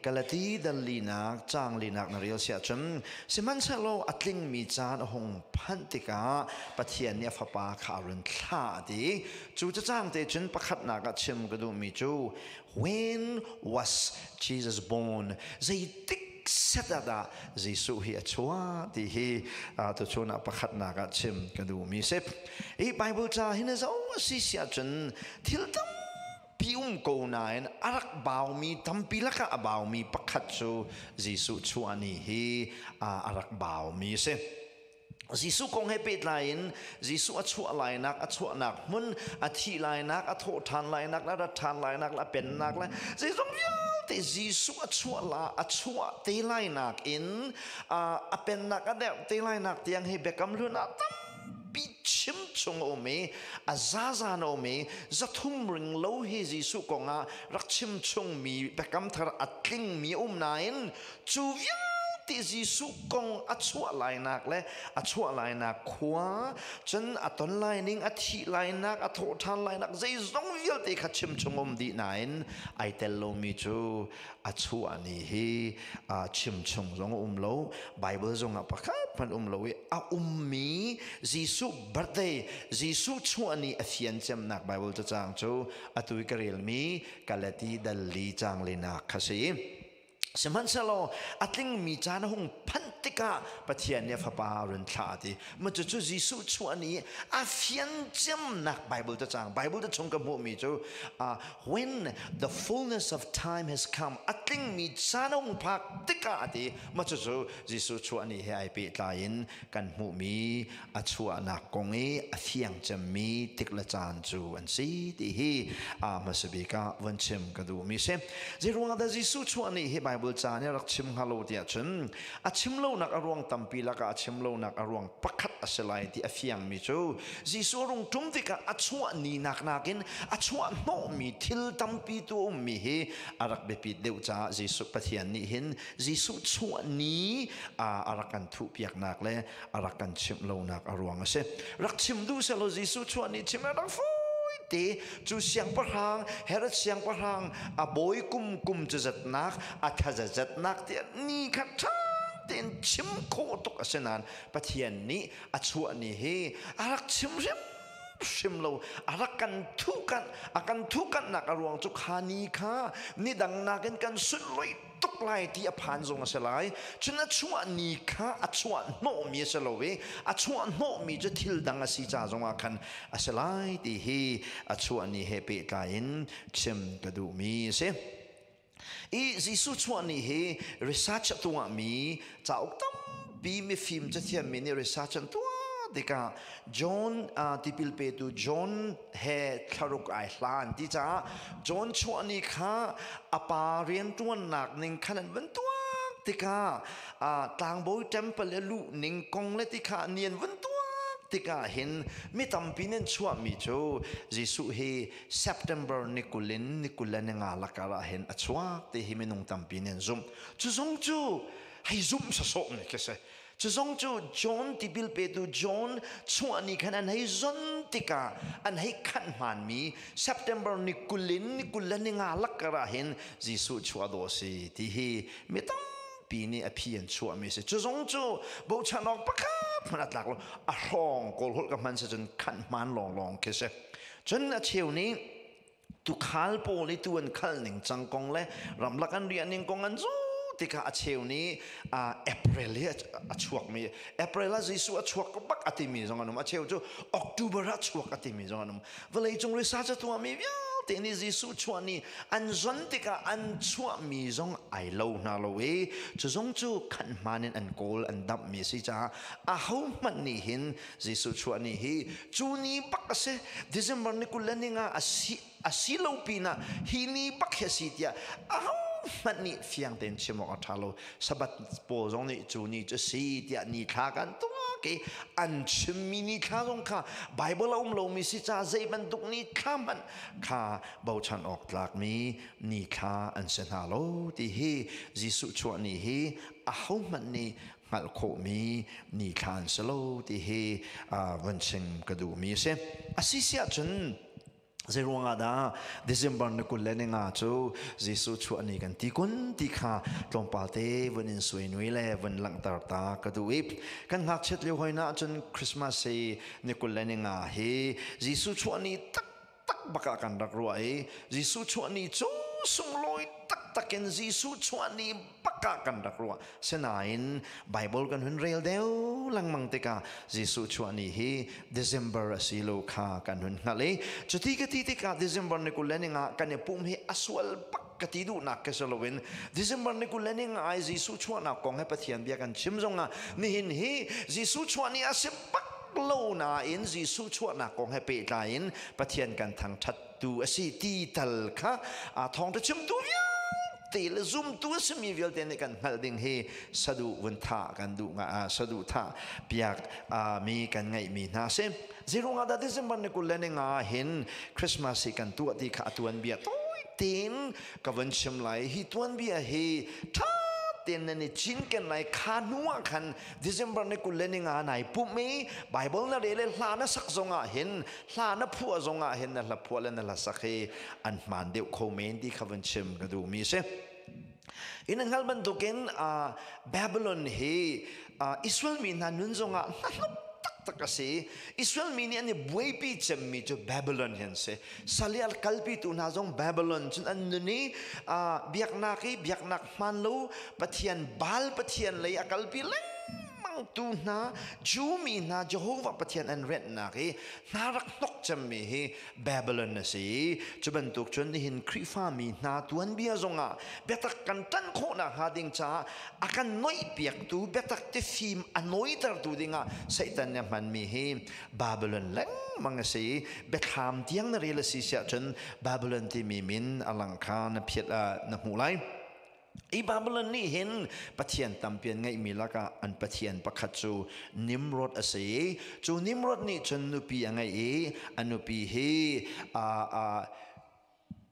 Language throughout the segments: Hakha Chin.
Galati danlinak caanglinak na rel siah cun sihmanhsehlaw a tlingmi caan a hung phanh tikah Pathian nih a Fapa kha a run thlah a ti. Cu cacang te cun pakhatnak ah chim ka duhmi cu when was Jesus born? Zeitik set ah dah Jesuh hi a chuah ti hi tuchun ah pakhatnak ah chim ka duhmi a si. Hi Bible ca hi na zoh a si siah cun thil tam ti um ko nain a rak baumi tampi lakah a baumi pakhat cu Jesuh chuani hi a rak baumi a si. Jesuh kong he pehtlai in Jesuh a chuah lainak a chuahnak hmun a thih lainak a thawh ṭhan lainak le a rat ṭhan lainak le a pennak le zeizong vialte Jesuh a chuah la a chuah te lainak in a pennak a derh te lainak tiang hi biakam hlun ah tam pichim chung a um i a zazan a um i zathum ring lo hi Jesuh kong ah rak chim chungmi biakam thar a tlingmi a um nain cu vialte Jesuh kong a chuah lainak le a chuah lainak khua cun a ton laining a thih lainak a thawh ṭhan lainak zeizong vialte kha chim chung um dih nain ai tel lomi cu a chuahni hi chimchung zong a um lo bible zongah pakhat hmanh um lo i a ummi jesuh birthday jesuh chuahni a fian cemnak bible cacang cu atu i ka relmi kalati dalli changlinak kha si sihmanhsehlaw a tlingmi caan a hung phanh tikah pathian nih a fapa run thlah a ti Mah cucu Jesuh chuah ni a fiangciamnak Bible ta cang. Bible ta chung ka hmuhmi cu when the fullness of time has come a tlingmi caan hung phak tikah a ti. Mah cucu Jesuh chuah ni he ai pehtlai in kan hmuhmi a chuahnak kong i a fiangcemmi tik le caan cu an si ti hi hmasa bik ah van chim ka duhmi si. Zei ruangah dah Jesuh chuah ni hi Bible caan i rak chim hnga lo tiah cun A chim lonak a ruang tampi lakah a chim lonak a ruang pakhat a si lai ti a fiangmi cu Jesuh rung ṭum tikah a chuah ninak nakin a chuah hnawhmi thil tampi tu a ummi hi a rak biapit deuh caah Jesuh Pathian nih hin Jesuh chuah ni a rak kan thuhpiaknak le a rak kan chimh lonak a ruang a si rak chim duh selaw Jesuh chuah nih chim a rak fui te cu siangpahrang Herod siangpahrang a bawi kum kum cu zatnak a thaza zatnak ti ni khat ṭha tein chim khawh tuk a si nain Pathian nih a chuah ni hi a rak chim hrim hrim lo a rak kan thuhkanh a kan thuhkanhnak a ruang cu kha ni kha nidang nakin kan sunlawih tuk lai ti a phan zong a si lai cun a chuah ni kha a chuah hnawhmi a si lo i a chuah hnawhmi cu thil dang a si ca zongah khan a si lai ti hi a chuah ni he pehtlai in chim ka duhmi a si i Jesuh chuah ni hi research a tuah mi cauk tampi mifim cathiam mi nih research an tuah tikah John uh, tipil petu John he thlaruk ai hlan ti caah John chuah ni kha a pa rianṭuannak ning khan an van tuak tikah tlangbawi temple le luh ning kong le ti kha ni an van tuak tikah hin mi tampi nih chuahmi cu Jesuh hi September ni kul in ni kul le ni nga lakar ah hin a chuak ti hi minung tampi nih an zumh cu zong cu hei zumh sawsawh ne khi si Cu zong cu John tipil petu John chuah ni khan an hei zon tikah an hei khanh hmaanmi September ni kul in ni kul le ni nga lakkar ah hin Jesuh chuah dawh a si ti hi mi tampi nih a phi an chuahmi a si. Cu zong cu bochan awk pakhat hmanh a tlak lo. A hrawng kawl holh ka hman si cun khanh hmaan lawnglawng khi a si. Cun a cheu nih tukhal pawl i tu an khal ning cang kong le ramlak an riah ning kong an zu ti kha a cheu ni april hi a chuak mi april ah jesu a chuak bak a timi zong an um a cheu cu october ah chuak a timi zong an um vawlei cung research a tuahmi vialte nih jesu chuah ni an zon tikah an chuah mi zong ai lo hna lo i cu zong cu khan hman in an kawl an damh mi a si caah a ho hmanh nih hin Jesuh chuah ni hi cu ni bak a si. December ni kul le ni nga a si a si lo pinah hi ni bak hi a si tiah ahohmanh nih fiang tein chim awk a ṭha lo. Sabbath pawl zong nih cu ni cu si tiah ni thla kan tuak i an chimmi ni thla zong kha Baibal a um lomi si caah zei bantuk ni thla hmanh kha bochan awk tlakmi ni thla an si hna lo ti hi Jesuh chuah ni hi ahohmanh nih hngalh khawhmi nithlaan si lo ti hi van chim ka duhmi a si. A si si ahcun zei ruangah dah December ni kul le ni nga cu Jesuh chuah ni kan ti kun ti kha tlawmpal te van in suai nui le van langhter ta ka duh i kan ngakchiat lio hoi na ahcun Christmas hi ni kul le ni nga hi Jesuh chuah ni tak tak bak ah kan rak ruah i Jesuh chuahni cu sunglawi taktak in Jesuh chuahni bak ah kan rak ruah sinain Bible kan hun rel deuh lengmang tikah Jesuh chuahni hi December a si lo kha kan hun hngalh i cuti ka ti tikah December ni kulening ah kan i pum hi a sual bak ka ti duhnak ka si loin December ni kulening ah Jesuh chuahnak kong he Pathian bia kan chim zongah nihin hi Jesuh chuahni a si bak lo nain Jesuh chuahnak kong he pehtlai in Pathian kan thangṭhattu a si ti tal kha thawngṭha chimtu vialte le zumtu a simi vialte nih kan hngalh ding hi saduhvun tha kan duh nga saduhthah piak mi kan ngeih mi hna si zirung ah datizim ban nikul le ninga hin Christmas hi kan tuah ti kha a tuan bia toi tin ka van chim lai hi tuan bia hi ṭha ten nan i cinken lai kha hnu ah khan December ni kul le ni nga nai pum i Bible na re le hla na sak zong ah hin hla na phuah zong ah hin na hla phuah le na hla sak hi an hmaan deuh kho men ti kha vun chim ka duh mi si in hngal bantukin uh, Babylon hi uh, Israel mi hna nun zong ah hlanop tak tak asi Israel mi nih an i buaipi cemmi cu Babylon hin si salial kalpi tu hna zong Babylon cun an nun i uh, biaknak i biaknak hmaan lo Pathian Baal pathian lei a kalpi lengmangtu hna Jew mi hna Jehovah Pathian an renhnak i hna rak hnok cemmi hi Babylon a si cu bantuk cun nihin Khrihfa mi hna tuanbia zongah biatak kan ṭan khawh nakhnga ding caah a kan noihpiaktu biatak tifim a nawitertu dingah Satan nih a hmanmi hi Babylon lengmang a si biathlam tiang na rel a si siah cun Babylon timi min a lang kha na phiat na hmuh lai i Babylon nih hin Pathian tampi an ngeihmi lakah an Pathian pakhat cu Nimrod a si cu Nimrod nih cun nupi a ngei i a nupi hi a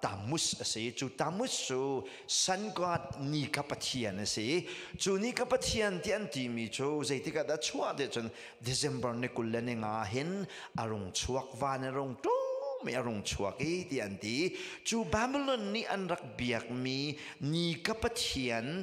tamus a si cu tamus cu sun god ni ka pathian a si cu ni ka pathian ti an timi cu zeitik ah dah chuah te cun december ni kul le ni nga hin a rung chuak van a rung tlung mi a rung chuak i ti an ti cu babylon nih an rak biakmi ni ka pathian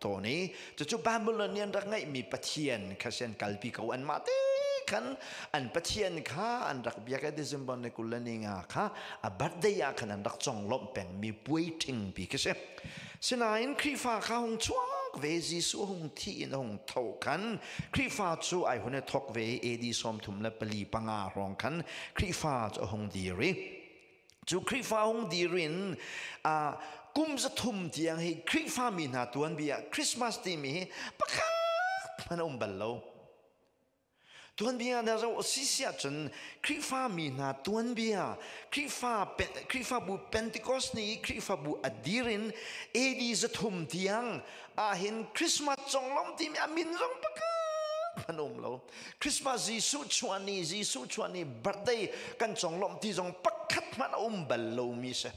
tawn i cucu Babylon nih an rak ngeihmi pathian kha si an kalpi ko an mah te khan an pathian kha an rak biak i December ni kul le ni nga kha a birthday ah khan an rak conglawmh pengmi puaiṭing pi khi si sinain Khrihfa kha hung chuak ve Jesuh hung thi in hung tho khan Khrihfa cu ai hun i thok ve AD sawm thum le pali panga hrawng khan Khrihfa cu a hung dir i cu Khrihfa hung dir in uh, kum zathum tiang hi Khrihfa mi hna tuan bia Christmas timi hi pakhat hman um bal lo tuanbia na ro si sia cun Khrihfa mi hna tuanbia Khrihfa Khrihfa bu Pentecost ni Khrihfa bu adirin AD zathum tiang ah hin Christmas chonglom timi amin zong pakhat hman um lo Christmas Jesuh chuani Jesuh chuani birthday kan conglawmh ti zong pakhat hmanh a um bal lomi si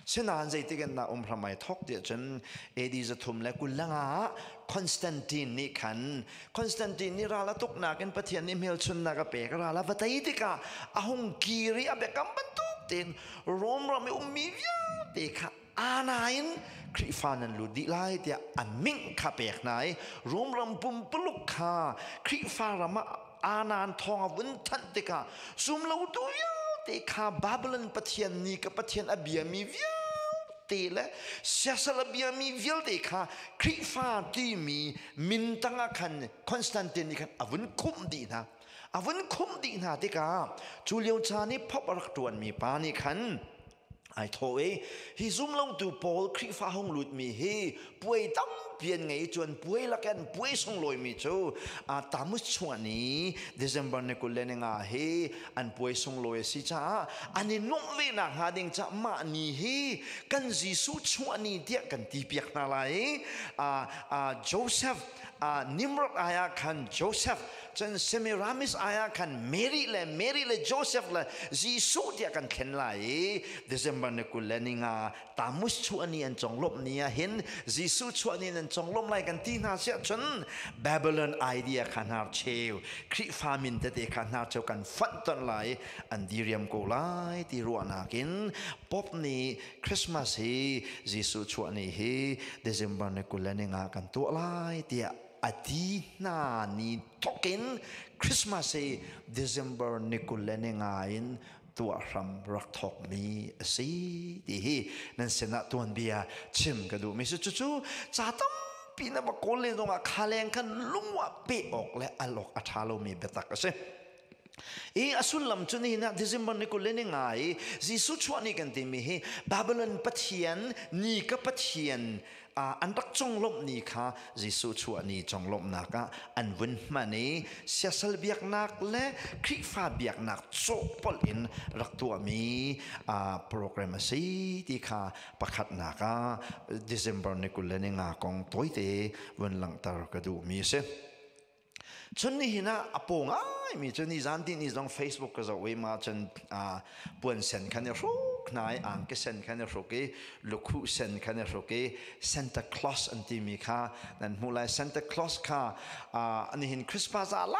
sinan zeitik in na um hramai thok ti cun AD zathum le kullanga ah Constantine nih khan Constantine nih ral a tuknak in Pathian nih hmelchunnak a pek ral a va tei tikah a hung kir i a biakam bantuk tein Rome ram i ummi vialte kha Anain Khrihfa nan lut dih lai tiah an ming kha pek hna i Rom ram pumpuluk kha Khrihfa ram ah anan thawng a vun thanh tikah zumlotu vialte kha Babylon pathian nih ka pathian a biami vialte le siasal a biami vialte kha Khrihfa timi min tangah khan Constantine nih khan a vun khumh dih hna a vun khumh dih hna tikah cu lio caan i phop a rak ṭuanmi pa nih khan ai thaw i hi zumlongtu paul khrihfa hong lutmi hi puai tampi an ngei cun puai lakin puai sunglawimi cu tamus chungah ni december ni kul le ni nga hi an puai sunglawi a si caah an i nuamh ve nak hnga ding caah mah ni hi kan jesuh chungah ni tiah kan ti piak hna lai i joseph nimrod ayah khan joseph Cun Semiramis ai ah khan Mary le Mary le Joseph le Jesuh tiah kan thlen lai i December ni kul le ni nga Tamus chuah ni an conglawmh ni ah hin Jesuh chuah ni nan conglawmh lai kan ti hna siah cun Babylon idea kha hnar cheu Khrihfa min tete kha hnar cheu kan fonhtonh lai an diriam ko lai ti ruahnak in Pope nih Christmas hi Jesuh chuah ni hi December ni kul le ni nga kan tuah lai tiah a ti hna ni thokin Christmas hi December ni kul le ni nga in tuah hram rak thok mi a si ti hi nan sinah tuan bia chim ka duh mi si cucu ca tampi na ba kawl le dongah khaleng khan lungwa pe awk le al awk a tha lo mi biatak a si i a sullam cu ni na December ni kul le ni nga i Jesuh chuah ni kan timi hi Babylon Pathian ni ka Pathian an rak conglawmh ni kha Jesuh chuah ni conglawmhnak ah an vun hman i siasal biaknak le Khrihfa biaknak cawhpolh in rak tuahmi program a si ti kha pakhatnak ah December ni kul le ni nga kong tawite vun langhter ka duhmi a si. Cun nihin ah a paw ngaimi cu nizan ti ni zong Facebook ka zoh i ma cun puan sen khan i hruk hna i angki sen khan i hruk i lukhu sen khan i hruk i Santa Claus an timi kha nan hmuh lai Santa Claus kha nihin Christmas ah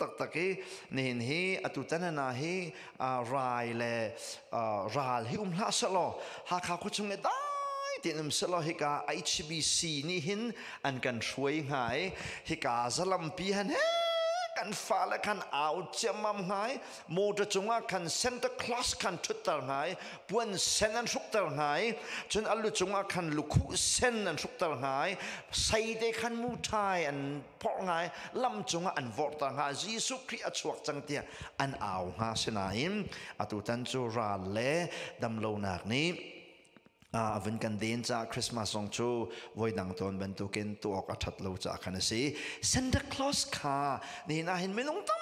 taktak i nihin hi atu tanana hi rai le ral hi um hlah selaw Hakha khuachung le dai tin um selaw hika HBC nih hin an kan hruai hnga i hika zalampi han he kan fa le khan au chiamam ngai motor cunga khan center class khan thutter ngai puan sen an hrukter ngai chun allu cunga khan lukhu sen an hrukter ngai sai te khan mu thai an phorh ngai lam cungah an vorhta hnga Jesuh Khrih a chuak cang tiah an au hnga sinain atu tan cu ral le damlonak nih a vun kan den caah Christmas zong cu voidang tawn bantukin tuah awk a ṭhat lo caah khan a si. Santa Claus kha nihin ah hin minung tam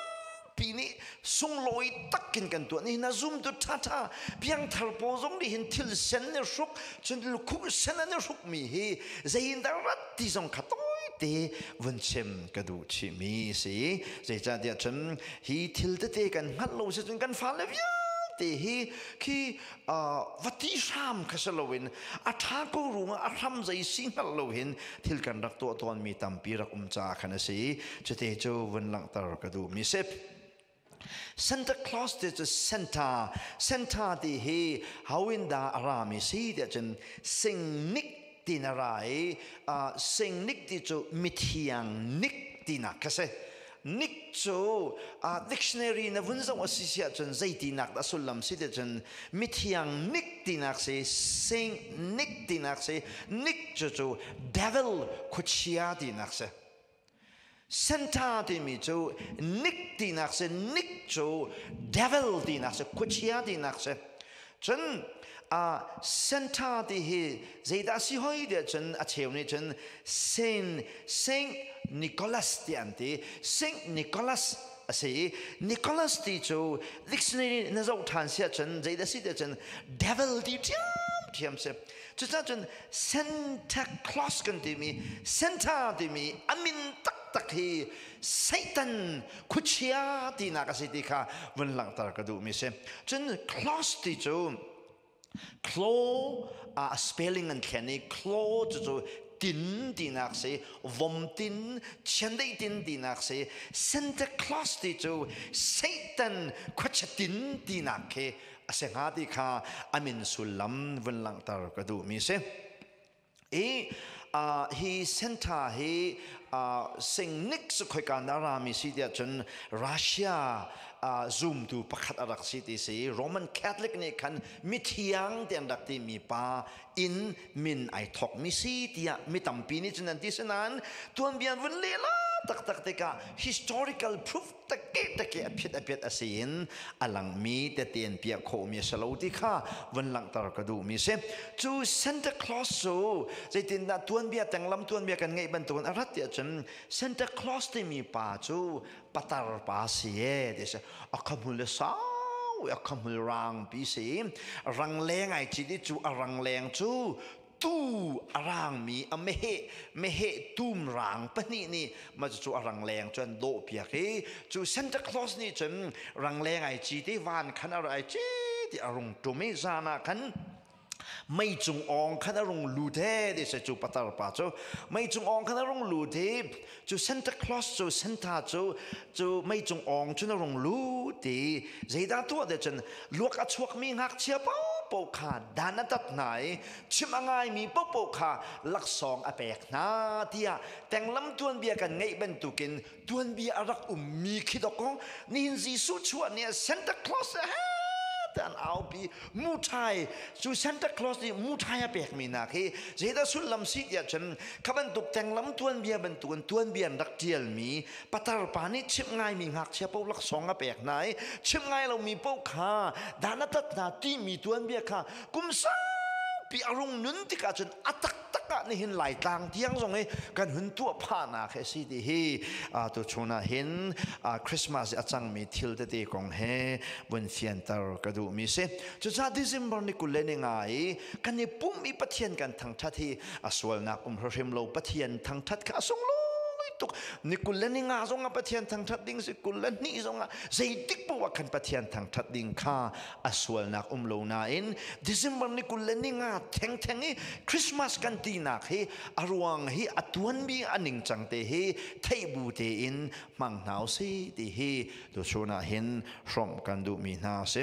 ti nih sunglawi takin kan tuah nihin a zum tu ṭhaṭha piangthar pawl zong nih hin thil sen ne hruk cun lukhuk sen an i hruk mi hi zeiin dah rat ti zong kha tawite vun chim ka duh chihmi si zeicahtiah cun hi thil tete kan hngalh lo si cun kan fale vialte hi khi va ti hram kha si loin a ṭha ko ruangah a hram zei si hngalh lo hin thil kan rak tuah tawnmi tampi rak um caah khan a si cuti cu vun langhter ka duhmi sip Santa Claus ti cu Santa Santa ti hi hoin dah a rami si tiah cun singnik ti na ra i singnik ti cu mithiang nik tinak ka si Nick cu uh, dictionary na vun zong a si si ahcun zeitinak dah sullam si ti cun mithiang Nick tinak si Saint Nick tinak si Nick cu cu devil khuachia tinak si Santa timi cu Nick tinak si Nick cu devil tinak si khuachia tinak si cun center ti hi zeidah si hoi tiah cun a cheu nih cun saint saint nicholas ti an ti saint nicholas a si i nicholas ti cu dictionary na zoh ṭhan siah cun zeidah si tiah cun devil ti ṭhiamṭhiam si cucaah cun santa claus kan timi center timi a min taktak hi Satan khuachia tinak a si ti kha vun langhter ka duhmi si. Cun clos ti cu claw a spelling an thlen i claw cu cu tin tinak si vom tin chiandei tin tinak si Santa Claus ti cu Satan khuachatin tinak khi a si hnga ti kha amin sullam vun langhter ka duhmi si. i uh, hi center hi uh, singnik su khoika na rami si tiah cun Russia uh, zumtu pakhat a rak si ti si Roman Catholic nih khan mithiang te an rak ti mi pa in min ai thok mi si tiah mi tampi nih cun an ti sinain tuan bian vun lela taktak tikah historical proof tekete a phiat a phiat a si in a langmi tete in piah khawhmi a si lo ti kha van langhter ka duhmi si cu Santa Claus cu zeitindah tuanbia tenglam tuanbia kan ngeih bantukin a rat tiah cun Santa Claus timi pa cu patar pa si e ti si a khamul le sau a khamul rangpi si rang le ngai ci cu a rang leng cu tuu a rangmi a meheh meheh tum rang pahnih nih mah cucu a rangleng cu an dawhpiak i cu Santa Claus nih cun rangleng ai ci ti van khan ar ai ci ti a rung tum i zan ah khan mei cung ong khan a rung lut he ti a si cu patar pa cu mei cung ong khan a rung lut i Cu Santa Claus cu Santa cu cu meicung awng cu na rung lut i zeidah tuah deh cun luak a chuakmi ngakchia paohpaoh kha dan a tat hna i chim a ngaimi paohpaoh kha laksawng a pek hna tiah tenglam tuanbia kan ngeih bantukin tuanbia a rak ummi khi dok kong nihin Jesuh chuah ni ah Santa Claus he an aupi muṭhai cu Santa Claus nih muṭhai a pekmi nak hi zeidah sullam si tiah cun kha bantuk tenglam tuanbia bantukin tuanbia in rak ṭialmi patar pa nih chimh ngaimi ngakchia paoh laksawng a pek hna i chimh ngai lomi paoh kha dana tat hna timi tuanbia kha kum saupi a rung nun tikah cun a tak takah nihin laitlang tiang zong i kan hun tuah phahnak he si ti hi tu chun ah hin Christmas i a cangmi thil tete kong he vun fianter ka duhmi si cucaah December ni kul le ni nga i kan i pum i Pathian kan thangthat hi a sualnak um hrim lo Pathian thangthat kha a sunglawi tuk ni kul le ni nga zong ah Pathian thangthat ding si kul le ni zong ah zeitik pawh kan Pathian thangthat ding kha a sualnak um lo nain December ni kul le ni nga thengtheng i Christmas kan tinak hi a ruang hi a tuanmi a ningcang te hi theihbu tein hmang hna u si ti hi tuchun ah hin hrawmh kan duhmi hna a si.